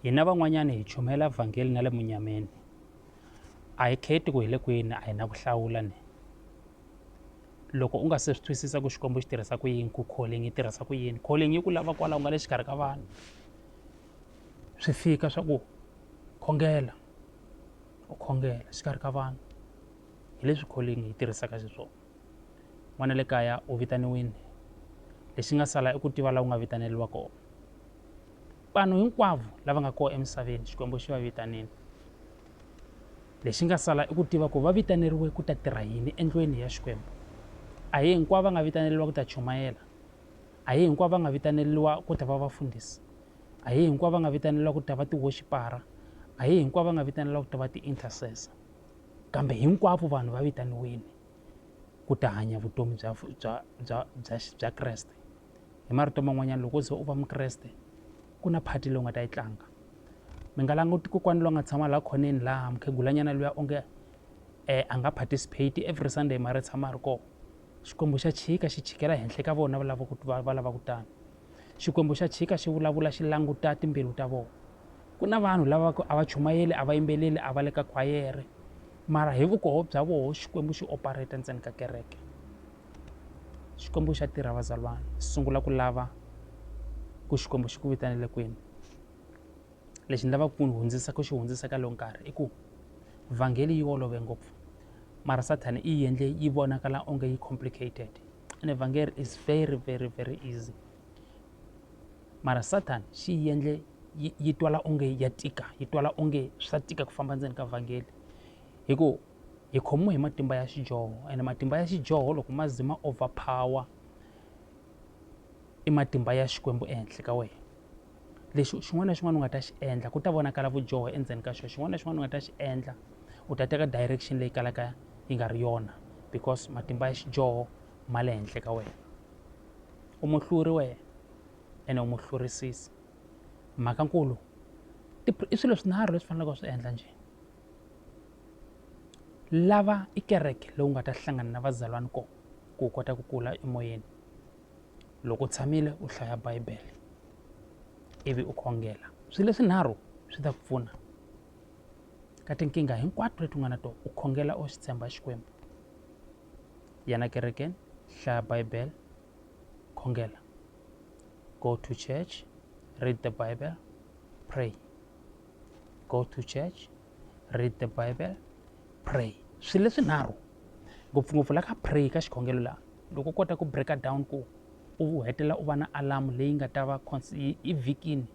hina van'wanyana hi chumela vhangeli na le munyameni a hi kheti ku hi le kwini a hi na ku hlawula ni loko u nga se swi twisisa ku xikwembu xi tirhisa ku yini ku calling yi tirhisa ku yini calling yi ku lava kwalaho nga le xikarhi ka vanhu swi fika swa ku khongela u khongela xikarhi ka vanhu hi leswi calling yi tirhisaka xiswona n'wana le kaya u vitaniwile lexi nga sala i ku tiva laha u nga vitaneriwa kona vanhu hinkwavo lava nga kona emisaveni xikwembu xi va vitanile lexi nga sala i ku tiva ku va vitaneriwe ku ta tirha yini endlweni ya xikwembu a hi hinkwavo va nga vitaneriwa ku ta chumayela a hi hinkwavo va nga vitaneriwa ku ta va vafundhisi a hi hinkwavo va nga vitaneriwa ku ta va ti-worshipara a hi hinkwavo va nga vitaneriwa ku ta va ti-intercessor Kambe hinkwavo vanhu va vitaniwile ku ta hanya vutomi bya bya bya bya bya Kreste hi marito man'wanyana loko ze u va mukreste ku na phati leyi u nga ta yi tlanga mi nga languti kokwani loyi nga tshama laha khoneni laha mukhegulanyana luya onge a nga participate every Sunday mara tshama a ri kona Xikwembu xa chika xi chikela henhla ka vona va lava ku va lava ku tano Xikwembu xa chika xi vulavula xi languta timbilu ta vona. Ku na vanhu lava ku a va chumayeli a va yimbeleli a va le ka khwayere mara hi vukoho bya voho xikwembu xi operate ntseni ka kereke xikwembu xa tirha vazalwana sungula ku lava ku xikwembu xi ku vitanele kwini lexi ni lavaka ku hundzisa ku xi hundzisa ka lowu nkarhi i ku vhangeli yi olove ngopfu mara sathane i yi endle yi vonakala onge yi complicated and evhangeli is very very very easy mara sathani xi yi endle yi yi twala onge ya tika yi twala onge swa tika ku famba ndzeni ka vhangeli hi ku hi khomiwe hi matimba ya xidyoho ene matimba ya xidyoho loko ma ze ma overpower i matimba ya xikwembu ehenhla ka wena lexi xin'wana na xin'wana u nga ta xi endla ku ta vonakala vudyoho endzeni ka xona xin'wana na xin'wana u nga ta xi endla u ta teka direction leyi kalaka yi nga ri yona because matimba ya xidyoho ma le henhla ka wena u muhluri wena ene u muhlurisisi mhaka nkulu i swilo swinharhu leswi faneleke u swi endla njhe lava i kereke leyi u nga ta hlangana na vazalwana kona ku u kota ku kula emoyeni loko u tshamile u hlaya bibele ivi u khongela swilo leswinharhu swi ta ku pfuna ka tinkingha hinkwato leti u nga na tona u khongela u xi tshemba xikwembu yena kerekeni hlaya bible khongela go to church read the bible pray go to church read the bible pray swilo leswinharhu ngopfungopfu la ka pray ka xikhongelo laha loko u kota ku breaka down ku u hetelela u va na alamu leyi nga ta va i vhikini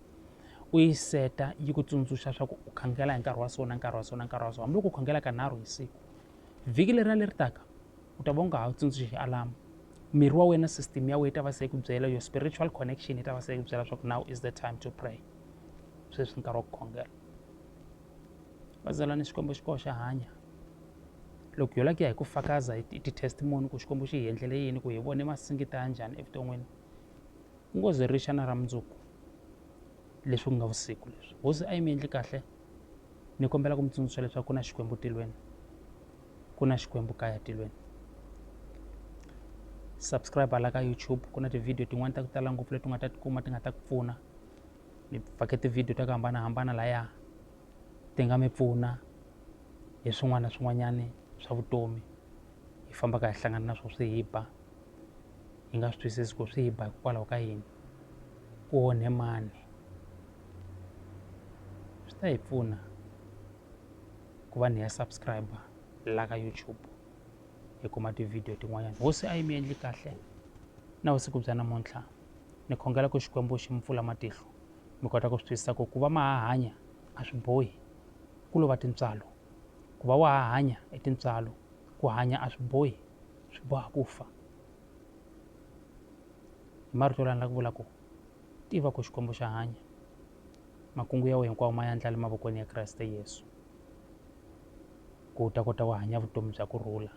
u yi seta yi ku tsundzuxa swa ku u khongela hi nkarhi wa so na nkarhi wa so na nkarhi wa so hambiloko u khongela ka nharhu hi siku vhiki leri a leri taka u ta va u nga ha tsundzuxi alamu miri wa wena system ya wena ta va se ku byela your spiritual connection yi ta va se ku byela leswaku now is the time to pray sweswi nkarhi wa ku khongela vazalani xikwembu xi koxa hanya loko yo lakiya hi ku fakaza hi ti-testimony ku xikwembu xi hi endlele yini ku hi vone masingita ya njhani evuton'wini ku ngo ze ri xana ra mundzuku leswi ku nga vusiku leswi hosi a yi mi endli kahle ni kombela ku mi tsundzuxa leswaku ku na xikwembu tilweni ku na xikwembu kaya tilweni subscribe hala ka youtube ku na tivhidiyo tin'wani ta ku tala ngopfu leti u nga ta tikuma ti nga ta ku pfuna ni fake tivhidiyo ta ku hambanahambana laya ti nga mi pfuna hi swin'wana na swin'wanyani swa vutomi hi fambaka hi hlangana na swo swi hi ba hi nga swi twisisi ku swi hi ba hikokwalaho ka yini ku onhe mani swi ta hi pfuna ku va ni ya subscriber la ka YouTube hi kuma tivhidiyo tin'wanyana hosi a yi mi endli kahle na vusiku bya namuntlha ni khongela ku xikwembu xi mi pfula matihlo mi kota ku swi twisisa ku ku va ma ha hanya a swi bohi ku lova tintswalo ku va wa ha hanya i tintswalo ku hanya a swi bohi swi boha ku fa. marito lani la ku vula ku tiva ku xikwembu xa hanya makungu ya wena hinkwawo ma yandla le mavokweni ya kreste yesu ku u ta kota ku hanya vutomi bya ku rhula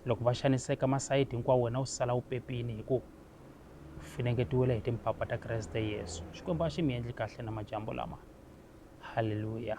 loko va xaniseka masayiti hinkwawo wena u sala u pepini hi ku finengetiwile hi timpapa ta kreste yesu xikwembu a xi mi endli kahle na madyambu lama halleluya